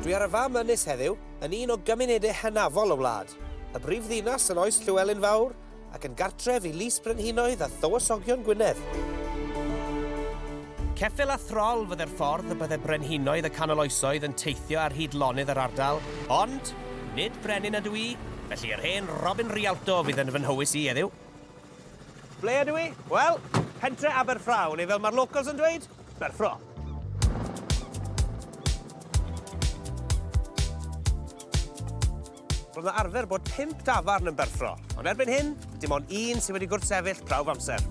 Dwi ar y fam ynys heddiw, yn un o gymunedau hynafol y wlad, y brif ddinas yn oes Llywelyn Fawr ac yn gartref i Lys Brenhinoedd a Thywysogion Gwynedd. Ceffyl a throl fydde'r ffordd y bydde brenhinoedd y canol oesoedd yn teithio ar hyd lonydd yr ardal, ond nid brenin ydw i, felly yr hen Robin Rialto fydd yn fy nhywys i heddiw. Ble ydw i? Wel, pentre Aberffraw, neu fel mae'r locals yn dweud, Berffro. Roedd yna arfer bod pimp dafarn yn Berffro, ond erbyn hyn, dim ond un sydd wedi gwrthsefyll prawf amser.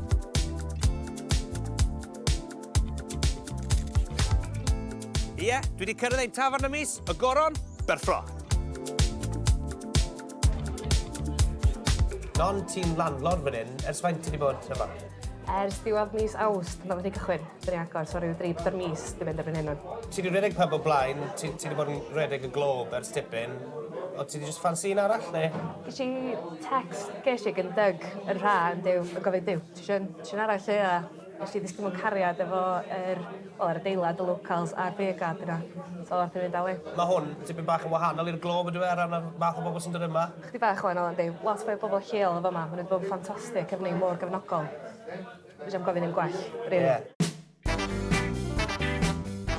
Ie, dwi wedi cyrraedd ein tafarn y mis, y goron, Berffro. Non ti'n landlord fan hyn, ers faint ti wedi bod yma? Ers diwedd mis Awst, mae wedi cychwyn. Dyn ni agor, so rhyw dri byr mis di mynd erbyn hyn o'n. Ti wedi rhedeg pub o blaen, ti, ti wedi bod yn rhedeg y glob ers tipyn. O ti wedi just fansi un arall neu? Ges i text, ges i gyndyg yn rha yn dyw, yn gofyn dyw, ti eisiau un arall lle a Nes i ddisgyn mewn cariad efo yr, wel, yr adeilad, y locales a'r beer garden 'na. So ath i fynd â fi. Mae hwn tipyn bach yn wahanol i'r Globe yndyw e, ar ran y math o bobl sy'n dod yma? Chydig bach yn wahanol yndi. Lot fwy o bobl lleol yn fama. Maen nhw 'di bod yn ffantastig efo ni, mor gefnogol. Fedra i'm gofyn ddim gwell, rili. Ie.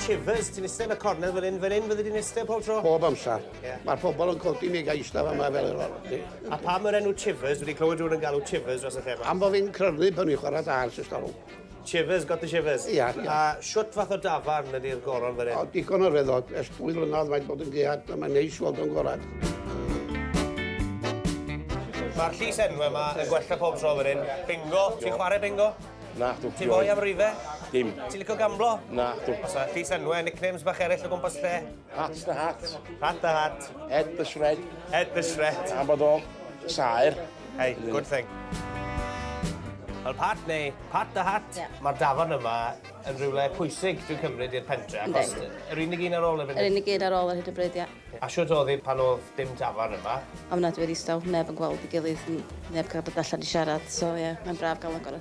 Chivers, ti'n iste yn y cornel fel 'yn. Fel 'yn fyddi di'n iste pob tro. Bob amser. Yeah. Mae'r pobol yn codi mi gael eistedd yma fel yr o'r chi. A pa mae'r enw Chivers? Wedi clywed rhywun yn galw Chivers dros y lle yma? Am bod fi'n crynu pan i'n chwarae dars ys galw. Chivers, got the Chivers? Ia, ia. A siwt fath o dafarn ydy'r goron fan hyn? O, digon o reddod. Ers dwy flynedd mae'n bod yn gead, a mae'n neis weld o'n gorau. Mae'r llys enw yma yn gwella pob tro fan hyn. Bingo, ti'n chwarae bingo? Na, dw. Ti'n fwy am rife? Dim. Ti'n licio gamblo? Na, dw. Os yna llys enwau, nicknames bach eraill o gwmpas lle? Hat the hat. Hat the hat. Head the shred. Head the shred. Am bod o'n saer. Hey, good thing. Wel, Pat, neu Pat the Hat, yeah. mae'r dafarn yma yn rhywle pwysig dwi'n cymryd i'r pentre, achos yr unig un ar ôl y funud. Yr unig un ar ôl yr hyd y bryd, ia. A siwt oedd hi pan oedd dim dafarn yma? Am nad wedi staw, neb yn gweld i gilydd, neb cael bod allan i siarad, so ie, yeah, mae'n braf gael agor